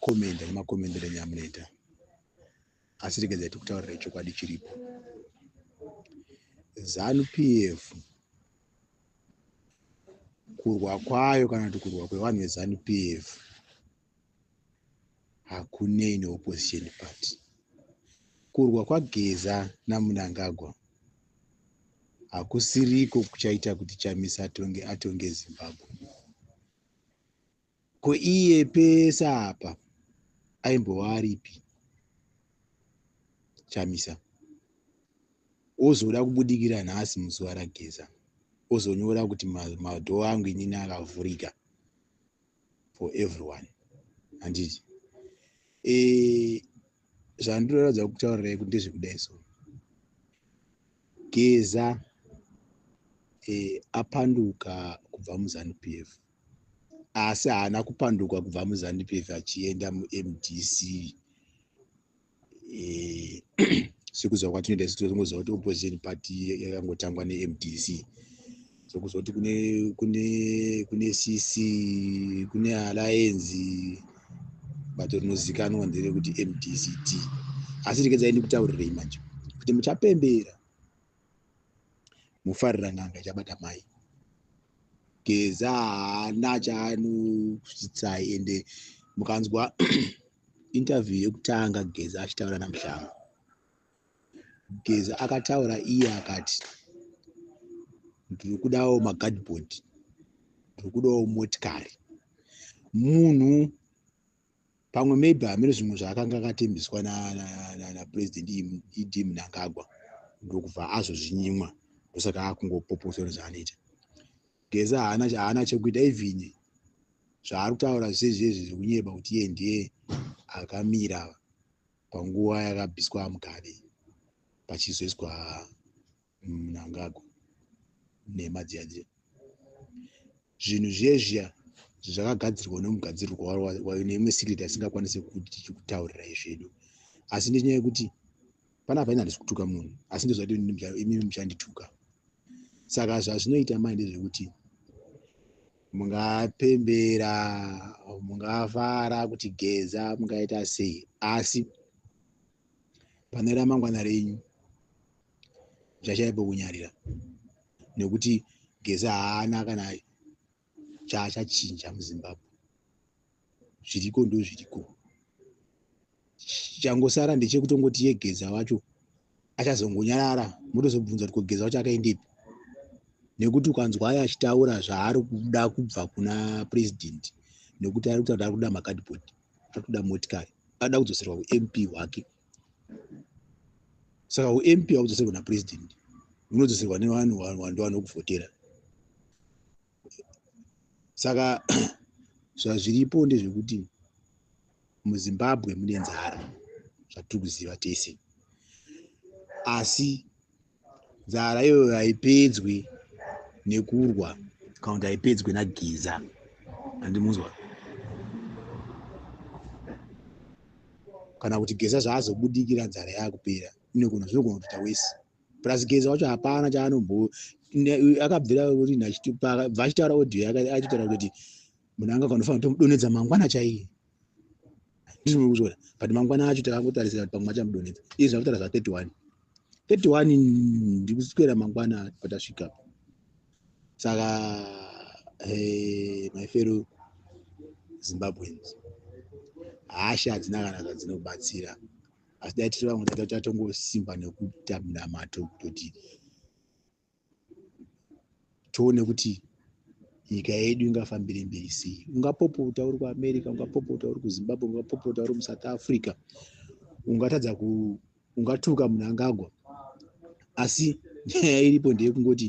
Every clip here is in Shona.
Commenda nema commendero enyu amunoita asi regedzai tikutaurira chokwadi chiripo. Zanu PF kurwa kwayo kana kuti kurwa kwevanhu veZanu PF hakunei neopposition party. Kurwa kwaGeza naMnangagwa hakusiriko kuchaita kuti Chamisa atonge, atonge Zimbabwe. Ko iye pese apa aimbova aripi Chamisa ozoda kubudikira nhasi muzuva raGeza ozonyora kuti madhoo angu inini akavhurika for everyone handiti e, eh, zvandiroratidza kutaurirai kuti ndezvekudai so Geza e, apanduka kubva muZanu PF asi haana kupanduka kubva muzandup f achienda mumdc eh, sekuziva kwatinoita isu totongoziva kuti opposition party yakangotangwa nemdc sokuziva kuti kune kune kune cc kune alliance bato rinozikanwa nderekuti mdct asi rekedzaindi kutaurirei manje kuti muchapembera mufarira n'anga ichabata mai geza haana chaanokusidzai ende mukanzwa interview yekutanga geza achitaura namushanga geza akataura iye akati ndiri kudawo magadboard ndiri kudawo motikari munhu pamwe maybe hameno zvimwe zvaakanga akatembiswa napresident na, na, na ed mnangagwa ndokubva azozvinyimwa ndosaka akungopoposwa nezvaanoita geza haana haana chekuita even zvaari kutaura zvezvezvi zvekunyeba kuti iye ndiye akamira panguva yakabiswa mugabe pachizoiswa mnangagwa nhema dziya dziya zvinhu zviye zviya zvakagadzirwa nemugadzirirwa wayo neimwe secret asingakwanise kutaurira izvedu asi nenyaya yekuti panapa ini handisi kutuka munhu asi ndozvati imimi muchandituka saka zvazvinoita mai ndezvekuti mungapembera mungafara kuti geza mungaita sei asi pane ramangwana renyu zvachaye pokunyarira nekuti geza haana kana chaachachinja muzimbabwe zviriko ndo zviriko changosara ndechekutongoti ye geza wacho achazongonyarara motozobvunza kuti kogeza wacho akaendepi nekuti ukanzwa ayo achitaura zvaari kuda kubva kuna president nekuti ari kutaura kuti ari kuda makadibod ari kuda motikari ari kuda kudzoserwa kump wake saka ump haudzoserwa napresident unodzoserwa nevanhu wando vanokuvhotera saka zvazviripo ndezvekuti muzimbabwe mune nzara zvatiri kuziva tese asi nzara iyoyo haipedzwi nekurwa kana kuti haipedzwi nagiza andimunzwa kana kuti geza zvaazobudikira nzara yaakupera inogona zvinogona kutoita wese plus geza wacho hapana chaanombo akabvira kuti bva achitaura audio achitaura kuti munhu anga kanofanira kutomudonedza mangwana chaiye ndizvo kuzvora but mangwana acho takakutarisira kuti pamwe achamudonetsa izvi zvakutaura zva 31 31 ndikuswera mangwana patasvika saka my fellow zimbabweans hasha hadzina kana zvadzinobatsira asi dai tiri vamwe tatatongosimba nekuita minamato kutoti tione kuti nyika yedu ingafambire mberi sei ungapopota uri kuamerica ungapopota uri kuzimbabwe ungapopota uri musouth africa ungatadza ku ungatuka munangagwa asi nyaya iripo ndeyekungoti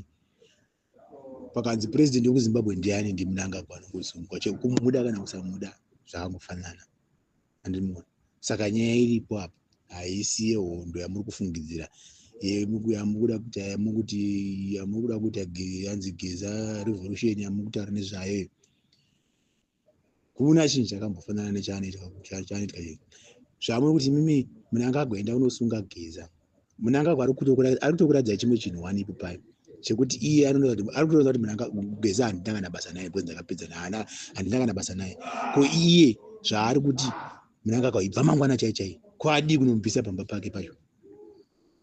pakanzi purezidenti wekuzimbabwe ndiani ndimunangagwa anongozunguka chekumuda kana kusamuda zvakangofanana andiri muona saka nyaya iripo apa haisi yehondo yamuri kufungidzira yamukuda kuti yamukuti yamukuda kuita yanzi geza revolution yamukutaura nezvayo iyo kuna chinhu chakambofanana nechanoitwa chanoitwa chii zvamuri kuti mimi munangagwenda unosunga geza munangagwa ari kutokuratidza chimwe chinhu wani ipo payo chekuti iye ari kutoona kuti munanga geza handitanga na basa naye kwenza kapedza naana handitanga na basa naye ko iye zvaari kuti munangagwa ibva mangwana chai chai ko adii kunomubvisa pamba pake pacho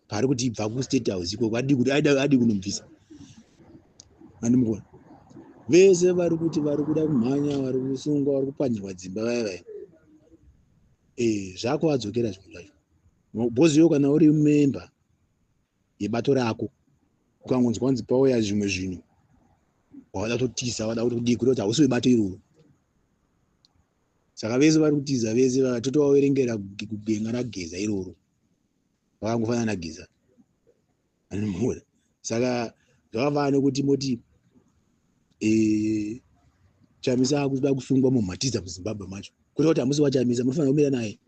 paari kuti ibva kustate house ikoko adii kuti adii kunomubvisa andimukona vese vari kuti vari kuda kumhanya vari kusungwa vari kupanyirwa dzimba vaya vaya ee eh, zvako vadzokera zvinhu zvacho Boss iwe kana uri member yebato rako ukangonzwa kunzi pauya zvimwe zvinhu wavada kutotisa wada kuti kudii kuti hausi webato iroro saka vese vari kutiza vese vatotovaverengera kugenga rageza iroro vakangofanana nageza anomura saka zvakafana nekuti moti eh, chamisa akuda kusungwa mumhatiza muzimbabwe macho kureva kuti hamusi wachamisa munofanira kumira naye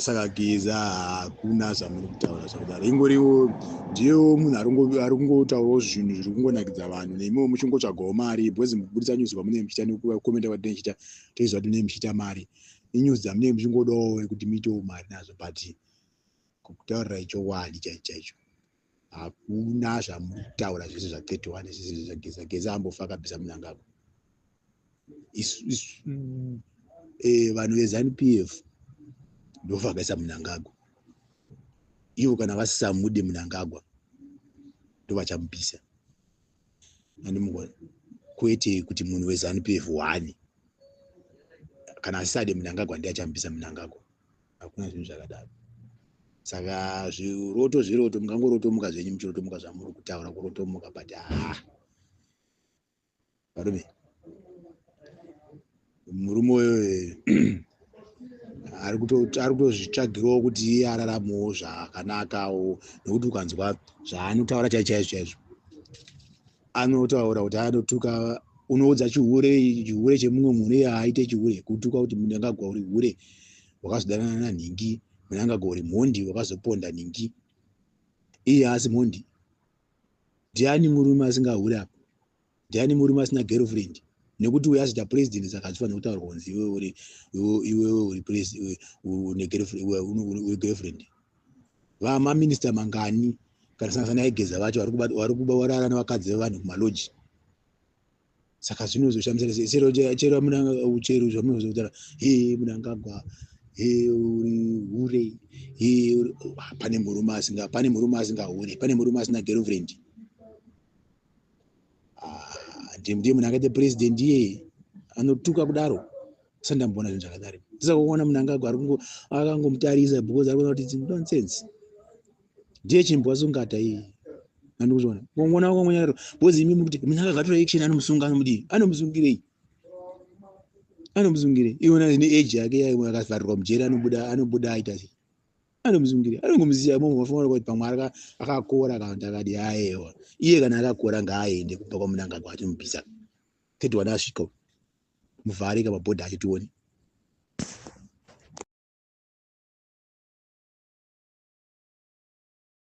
saka geza hakuna zvamuri kutaura zvakudaro ingoriwo ndiyewo munhu ari kungotaurawo zvinhu zviri kungonakidza vanhu nemiwo muchingotsvagawo mari bcause muburitsa news kwamunee muchiita nekukomenta kwatinee chiita toiziva kuti munee muchiita mari inews dzamunee muchingodawo kuti muitewo mari nazvo but kutaurira ichokwadi chaicho chaicho hakuna zvamuri kutaura zvese zva 31 zvese zvageza geza ambofa akabvisa munangagwa isu isu eh, vanhu vezanup f ndovakaisa munangagwa ivo kana vasisamude munangagwa ndovachamupisa andimugona kwete kuti munhu wezanup f one kana asisade munangagwa ndiachamupisa munangagwa hakuna zvinhu zvakadaro saka zviroto zviroto mungangorotomuka zvenyu muchirotomuka zvamuri kutaura kurotomuka but haa varume murume uyo ari kutozvitsvagirawo kuti iye araramewo zvakanakawo nekuti ukanzwa zvaanotaura chaichaizvo chaizvo anotaura kuti anotuka unoudza chihure chihure chemumwe munhu iye haaite chihure kutuka kuti munangagwa uri hure wakazodanana nanhingi munangagwa uri mhondi wakazoponda nhingi iye haasi mhondi ndiani murume asingahure apa ndiani murume asina girlfriend nekuti uyo azoita president saka achifanira kutaurwa kunzi iwewe uri girlfriend vamaminista mangani kana sangasana yaigeza vacho vari kuba varara nevakadzi vevanhu kumaloji saka zvinozoshamisa se chero chero amuna uchero zvamunozotara he munangagwa he uri hure he uri oh, pane murume asinga pane murume asinga hure pane murume asina girlfriend ah, ndiye ndiye munhu akaita president iyeye anotuka kudaro sa ndamboona zvinhu zvakadari ndisakuona munhu angago akangomutarisa because ari kuona kuti nonsense ndiye chimbo asungata iyeye andikuzviona ngomona wako mwenyaro because imi mukuti munhu akagatura action anomusunga anomudii anomusungirei anomusungirei iona ine age yake yakavharirwa mujeri anobuda anobuda aita sei anomuzungirira anongomusiya imomo vafanira kuti pamwe arika akakora kana kuti akadi aewa iye kana akakora ngaaende kubva kwamunangagwa achimubvisa thirty one asvika muvharika mabhodha achitioni